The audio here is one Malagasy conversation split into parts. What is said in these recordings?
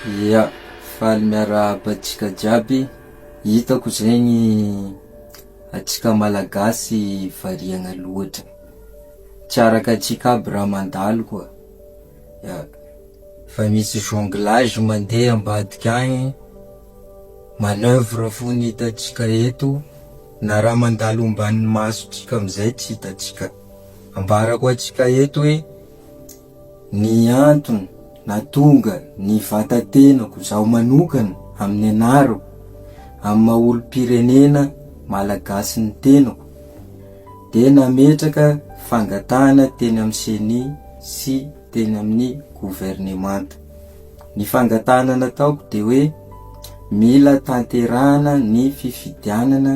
Ia, faly miarahaba antsika jiaby, hitako zegny antsika malagasy variagna loatra, tsy araka antsika aby raha mandalo koa, ia, fa misy jonglage mandeha ambadika agny, manoeuvre fo no hitantsika eto, na raha mandalo omban'ny masotsika amizay tsy hitantsika, ambarako antsika eto hoe Ny antony nahatonga ny vata-tenako zaho manokana amin'ny anarako, amin'ny maha olom-pirenena Malagasy ny tenako, dia nametraka fangatahana teny amin'ny Ceni sy teny amin'ny governemanta. Ny fangatahana nataoko dia hoe mila tanterahana ny fifidianana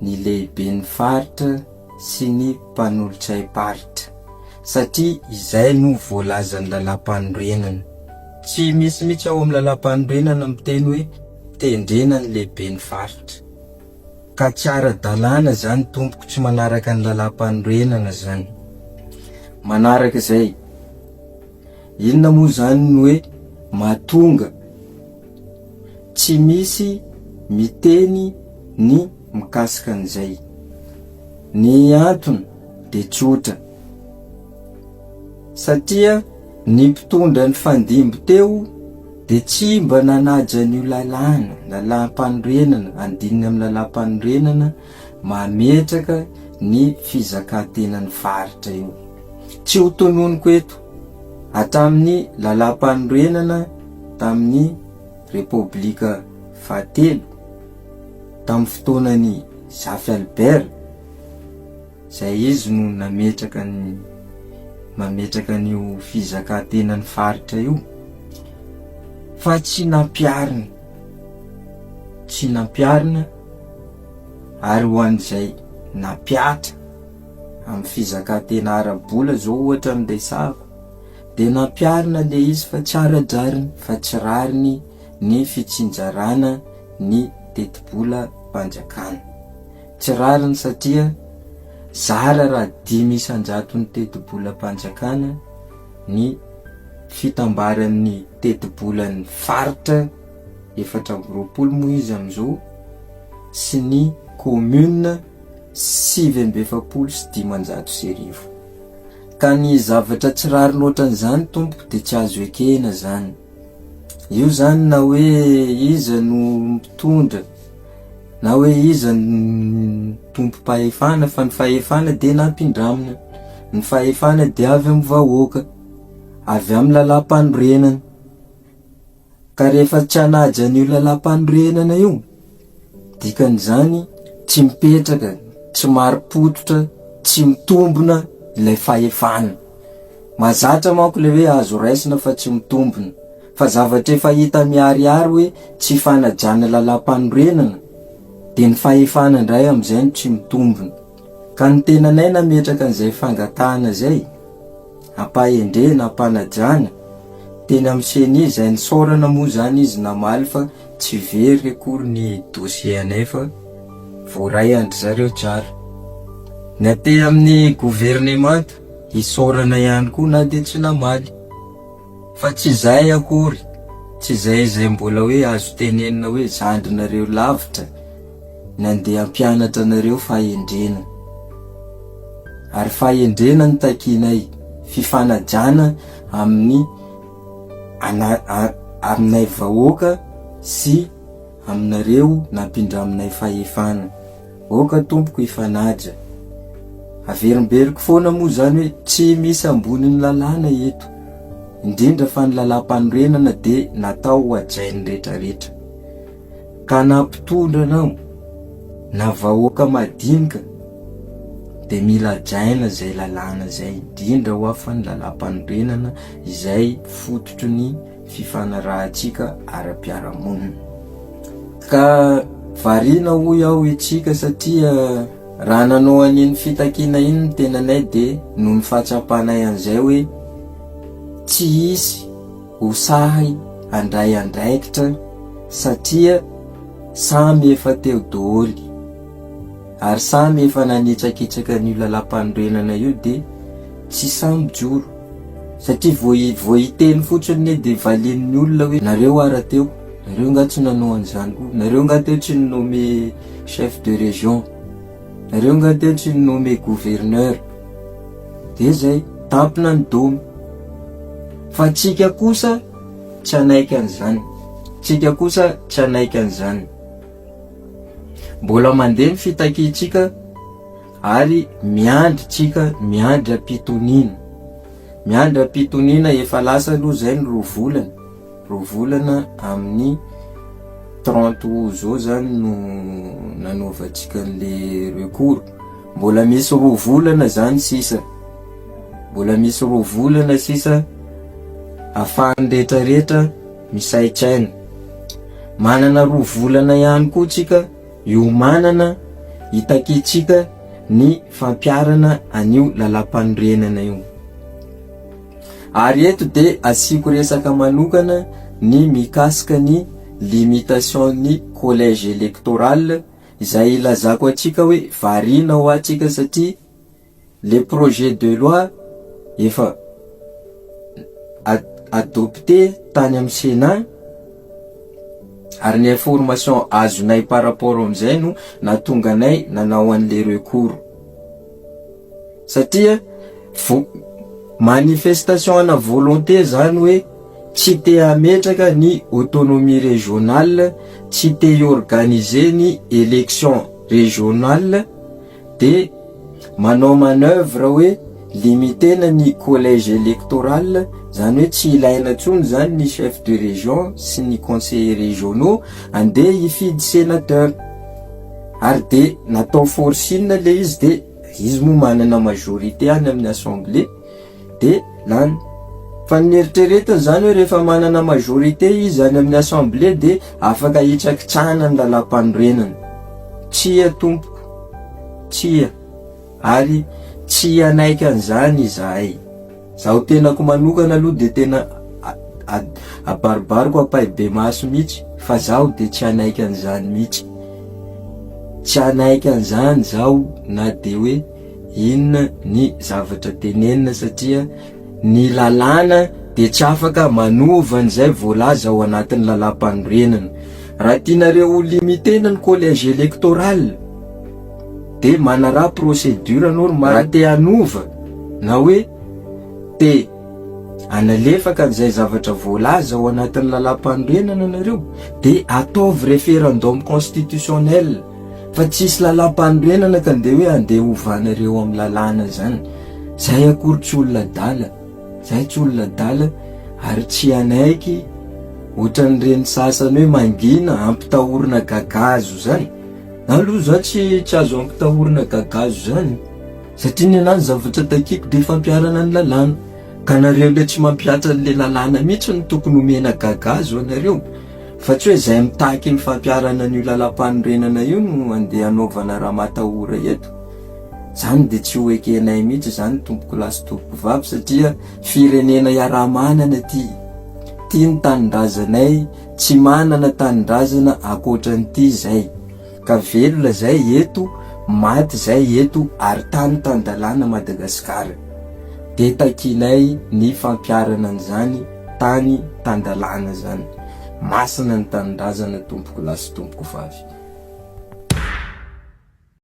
ny lehiben'ny faritra, sy ny mpanolotray paritra satria izay no voalazan'ny lalampanorenana. Tsy misy mihitsy ao amin'ny lalampanorenana miteny hoe tendrena ny lehiben'ny faritra. Ka tsy ara-dalàna izany tompoko tsy manaraka ny lalampanorenana izany. Manaraka izay, inona moa izany ny hoe mahatonga. Tsy misy miteny ny mikasika an'izay. Ny antony dia tsotra. Satria ny mpitondra nifandimby teo dia tsy mba nanaja an'io lalàna, lalàmpanorenana, andininy amin'ny lalàmpanorenana mametraka ny fizakan-tenan'ny faritra io. Tsy ho tononiko eto. Hatramin'ny Lalàmpanorenana tamin'ny Repoblika fahatelo, tamin'ny fotoanan'i Zafy Albert, izay izy no nametraka ny mametraka an'io fizakan-tenan'ny faritra io, fa tsy nampiharina, tsy nampiharina, ary ho an'izay nampihatra, Amin'ny fizakantena ara-bola izao ohatra no resahako, dia nampiharina ilay izy fa tsy ara-drariny fa tsy rariny ny fitsinjarana ny tetibolam-panjakana. Tsy rariny satria zara raha dimy isan-jaton'ny tetibolam-panjakana ny fitambaran'ny tetibolan'ny faritra efatra amby roapolo moa izy amin'izao sy ny commune, sivy amby efapolo sy dimanjato sy arivo. Ka ny zavatra tsy rariny ohatran'izany tompoko dia tsy azo ekena zany. Io zany na hoe iza no mpitondra na hoe iza no tompom-pahefana fa ny fahefana dia nampindramina, ny fahefana dia avy amin'ny vahoaka, avy amin'ny lalàmpanorenana. Ka rehefa tsy hanaja an'io lalàmpanorenana io, dikan'izany tsy mipetraka, tsy marim-pototra, tsy mitombina ilay fahefana. Mahazatra manko ilay hoe azo raisina fa tsy mitombina. Fa zavatra efa hita miharihary hoe tsy fanajana lalàmpanorenana, dia ny fahefana indray amin'izay no tsy mitombina. Ka ny tenanay nametraka an'izay fangatahana izay, ampahendrena, ampanajana, teny amin'ny ceni izay nisaorana moa izany izy namaly fa tsy very akory ny dossier anay fa voaray an-dry zareo tsara. Ny aty amin'ny governemanta isaorana ihany koa na dia tsy namaly. Fa tsy izay akory, tsy izay izay mbola hoe azo tenenina hoe zandrinareo lavitra nandeha hampianatra anareo fahendrena. Ary fahendrena no takianay, fifanajana amin'ny ana, aminay vahoaka sy aminareo nampindraminay fahefana. Oka tompoko hifanaja. Averimberiko foana moa izany hoe tsy misy ambonin'ny lalàna eto, indrindra fa ny lalàmpanorenana dia natao ho hajain'ny retraretra. Ka na mpitondra anao, na vahoaka madinika dia mila hajaina izay lalàna izay, indrindra ho'a fa ny lalàmpanorenana izay fototry ny. fifanarahantsika ara-piarahamonina. Ka variana hoy aho isika satria raha nanao an'iny fitakiana iny ny tenanay dia noho ny fahatsapanay an'izay hoe tsy hisy ho sahy handray andraikitra satria samy efa teo doholy ary samy efa nanitsakitsaka an'io lalàmpanorenana io dia Tsy sahy mijoro. Satria vao vao hiteny fotsiny anie dia valian'ny olona hoe nareo ah rahateo, nareo nga tsy nanao an'izany koa, nareo nga teo tsy ni nomme chef de région, nareo nga teo tsy ni nomme gouverneur. Dia zay, tampina ny domy. Fa tsika kosa tsy hanaiky an'izany, tsika kosa tsy hanaiky an'izany. Mbola mandeha ny fitakiantsika. Ary miandry tsika miandry ampitoniana miandry ampitoniana efa lasa aloha zay ny roa volana roa volana amin'ny trente aout zao zany no nanaovantsika an'le recours mbola misy roa volana zany sisa mbola misy roa volana sisa afahan'ny rehetra rehetra misaintsaina manana roa volana ihany koa tsika Iomanana hitaketsika ny fampiharana an'io lalampanorenana io. Ary eto dia asiako resaka manokana ny mikasika ny limitation ny collège électoral izay ilazako antsika hoe variana ho antsika satria Le projet de loi efa adopte tany amin'ny Sénat ary ny information azonay par rapport amin'izay no nahatonga anay nanao an'le recours satria vo- manifestation ana volonté zany hoe tsy te hametraka ny autonomie régionale, tsy te hi-organiser ny élection régionale, Dia manao manoeuvre hoe limiter-na ny collège électoral, izany hoe tsy ilaina intsony izany ny chef de région sy ny conseillers régionaux, andeha hifidy sénateur. Ary dia natao forcing ilay izy dia izy moa manana majorité any amin'ny assemblée, dia lany. Fa ny neritreretiny izany hoe rehefa manana majorité izy any amin'ny assemblée dia afaka hitrakitsahana ny lalàmpanorenana. Tsia tompoko. Tsia. Ary tsy hanaiky an'izany izahay. Izaho tenako manokana aloha dia tena abaribariko ampahibemaso mihitsy fa izaho dia tsy hanaiky an'izany mihitsy. Tsy hanaiky an'izany izaho na dia hoe. Inona ny zavatra tenenina satria ny lalàna dia tsy afaka manova an'izay voalaza ao anatin'ny lalàmpanorenana. Raha tianareo ho limiter-na ny collège électoral dia manaraha procédure normale. Raha te hanova na hoe te hanalefaka an'izay zavatra voalaza ao anatin'ny lalàmpanorenana ianareo dia ataovy référendum constitutionnel. fa tsisy lalam-panorenana ka ndeha hoe andeha ovana ireo amin'ny lalàna izany, izahay akory tsy olona adala, izahay tsy olona adala ary tsy hanaiky ohatran'ireny sasany hoe mangina hampitahorina gagazo izany, na aloha izaho tsy tsy azo hampitahorina gagazo izany satria ny anah ny zavatra takiako dia fampiharana ny lalàna, ka nareo ilay tsy mampihatra an'ilay lalàna mihintsy no tokony omena gagazo anareo. Fa tsy hoe izay mitaky ny fampiharana an'io lalam-panorenana io no handeha hanaovana raha matahora eto. Izany dia tsy ho ekenay mihitsy izany tompokolahy sy tompokovavy satria firenena iaraha-manana ity. Ity ny tanindrazanay, tsy manana tanindrazana ankoatran'ity izay. Ka velona izay eto, maty izay eto ary tany tan-dalàna Madagasikara. Dia takianay ny fampiharana an'izany. Tany tan-dalàna izany. Masina ny tanindrazana tompoko lahy sy tompoko vavy.